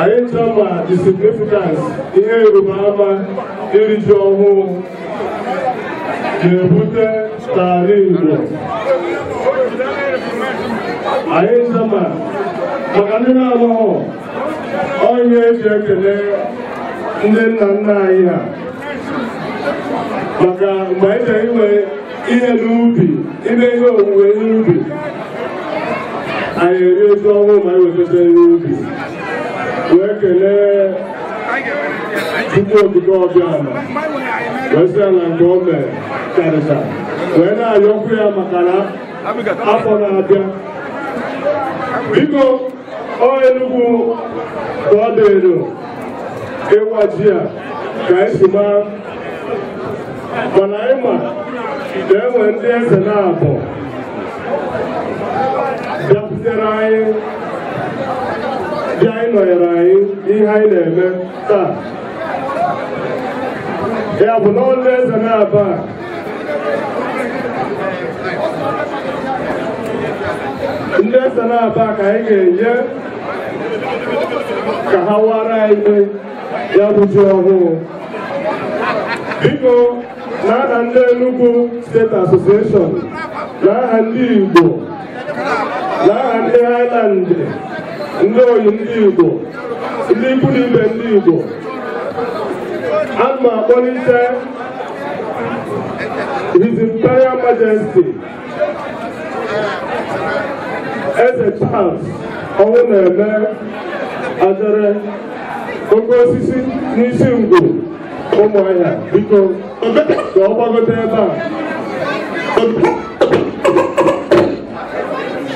anyị ncha ma the significance ihe ịrịba ama iri ji ọhụụ na-ebute n'ala Igbo anyị ncha ma maka ndị na-amaghọ ọ ihe eji ekele ndị nna nna anyị ha maka mgbe anyị chọrọ inwe ihe n'ubi ime ihe owuwe ihe ubi anyị erie ji ọhụụ ma anyị wetata ihe ubi wee kelee Chukwu Okike Abịama wee sị ya na nke o mere karịta wee na-ayọkwu ya maka na afọ na-abịa biko ọ enugwu ka ọ dịrị ịwa ji a ka anyị si maa mana anyị ma na e nwere ndị eze naabọ bịakwutere anyị bịa ịnọnyere anyị n'ihe anyị na-eme taa ya bụ na ndị eze naabọ a ndị eze naabọ ka anyị ga-enye ka ha waara anyị ya bụ ji ọhụụ biko na aha ndị Enugu steeti asosieshọn na aha ndị Igbo na aha ndị Highland ndị enyi ndị Igbo ndị ikwu na ibe ndị Igbo ana m akpọlite His Imperial Majesty eze Charles ọnwụ na-eme ajere oke osisi n'Isingwu Ụmụahịa biko ka ọ gbagote ebe a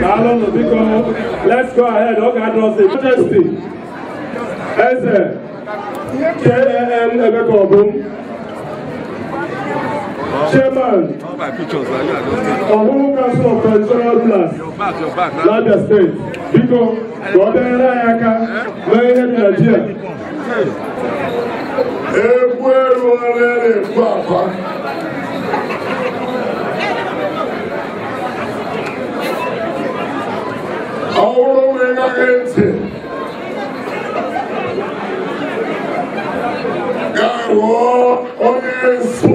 Daalụnụ biko, let's go ahead, ọ ga-adị ọsọ. Majesty, Eze, KAN Emeka Obum, Chairman, Ọhụhụ Council of Traditional Rulers, n'Abia Steeti, biko, ka ọ bịa nyere anyị aka mee ihe dị na ji a. egwu eruola na-ekwu akwa ọ bụrụ na ị gaghị ntị gaa rụọ onye nso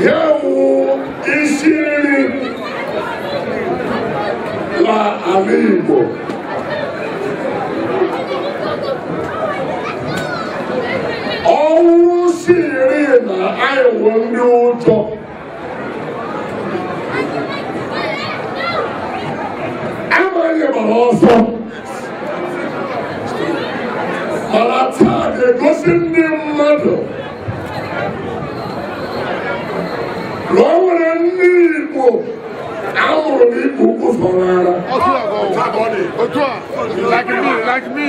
ji wụ isi nri na ala Igbo ọ wụ isi nri na anyị wụ ndị Igbo amaghị m agba ọsọ mana taa na-egosi ndị mmadụ na o nwere ndị Igbo a mụrụ na Igbo ukwu fọrọ ara Otu a, like me, like me.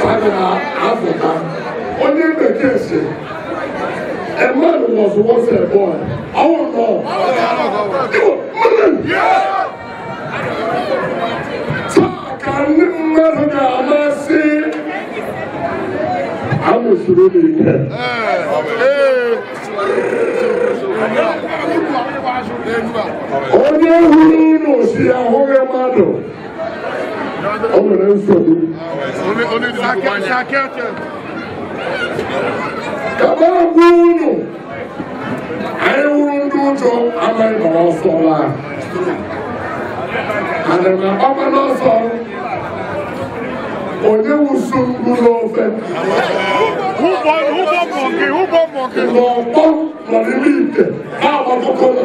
Father Africa, onye bekee sị a man was once a boy. I want to know. Taa ka ndị mmadụ ga-ama sị e wusiri ụlọ ike. Onye hụrụ ụlọ sị ahụghị mmadụ. o nwere nsogbu ka m gwa unu anyị wụrụ ndị ụjọ amaghị m ọsọ laa ana m agbaba n'ọsọ onye wusu mgbu n'ofe n'ọkpọ nọ n'ime ite na-agbakọkọla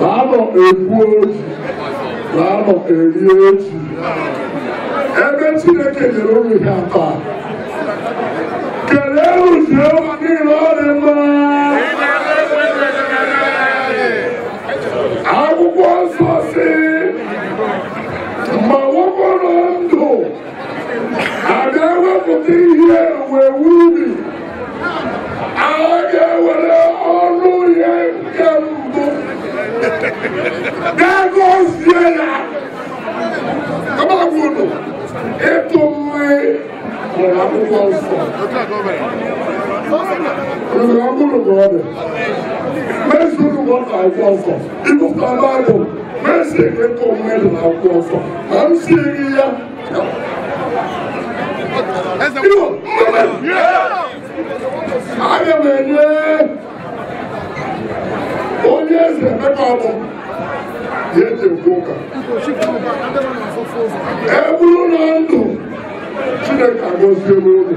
laanọ egwuo ji laanọ erie ji ebe chineke nyere ụmụ ihe atọ a kelee ụwa niile ọ dị mma akwụkwọ nsọ sị a ga-ewepụta ihe owuwe ubi a ga-ewere ọnụ ya nke mbụ gaa gọzie ya agbagwụnụ ịtụ mmiri nwere akwụkwọ nsọ Nwere ọbụrụ ka ọ dị. Mezi ụlọ na akwụkwọ nsọ. Ibupụta Baịbụl, mezi ịtụ mmiri na akwụkwọ nsọ. aga m enye onye eze emeka ọ bụ ya e ji ekwu ụka e bụrụ na ndụ chineke agọzie n'oge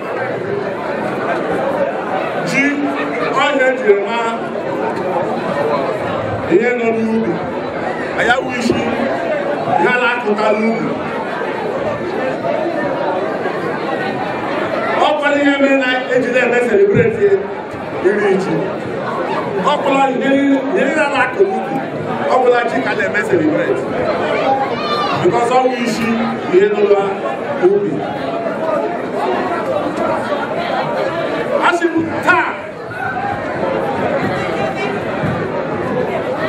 ji wụ ihe e jiri mara ihe nọ n'ubi ya bụ isi ihe a na-akụta n'ubi ọ kwara ihe mere na ejide eme celebrate iri ji ọ bụla nyere ya na-akụ n'ubi ọ bụla ji ka a na-eme celebrate because ọ wụ isi ihe n'ụwa ubi asị m taa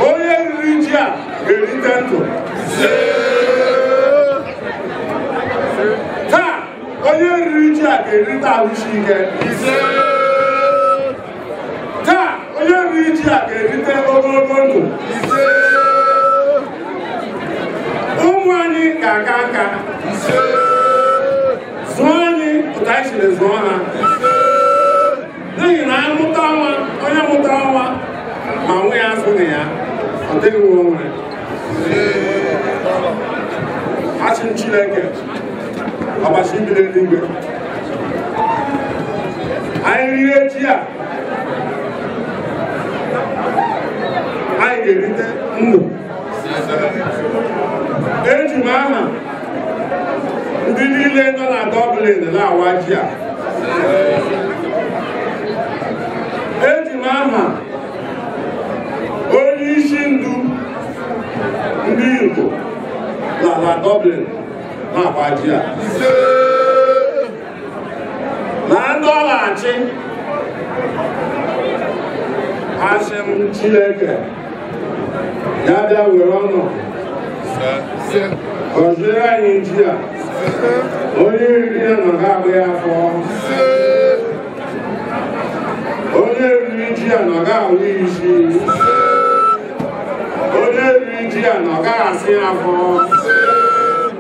onye riri ji a ga-erite ndụ onye riri ji a ga-erite ahụ isi ike taa onye riri ji a ga-erite ogologo ndụ ụmụ anyị ga-aka nka zụọ anyị otu anyị siri zụọ ha n'ihi na anyị mụta nwa onye mụtara nwa ma nwa ya azụna ya ọ dịghị nwa o nwere asị m chineke ọbasị bi n'eluigwe anyị rie ji a anyị ga-erite ndụ eji m aha ndị niile nọ na Dublin na-awa ji a eji m aha onye isi ndu ndị Igbo nọ na Dublin na-awa ji a na ndị ọ na-achị asị m Chineke ya bịa were ọnụ gọziere anyị ji a onye riri ya na ọ ga-agba ya afọ onye riri ji a na ọ ga-awa ya isi onye riri ji a na ọ ga-asa ya afọ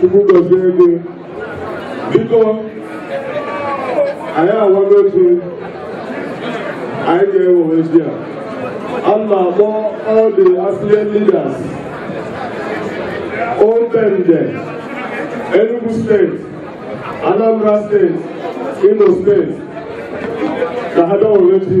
Chukwu gozie gị. Biko, anyị awago otu anyị ga-ewe ozi a. A na-akpọ all the affiliate leaders, Old Bende, Enugu steeti, Anambra steeti, Imo steeti, ka ha bịa were ozi.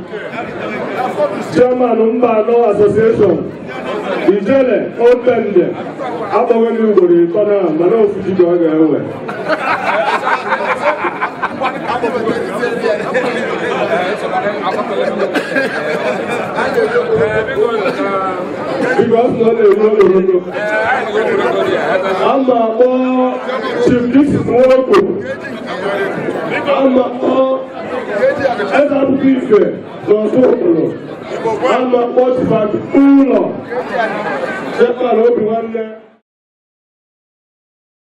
chairman Mbano association ijele Old Bende akpọghị m ugboro ịtọ na mana ofu ji ka ọ ga-ewe biko ọ sị na ọ na-eru ogologo ama akpọ chief dixit nwoko ama akpọ eze akwụkwọ ife n'ọtụ obodo ama kpọtụbadị ụlọ sekpara obi nwanne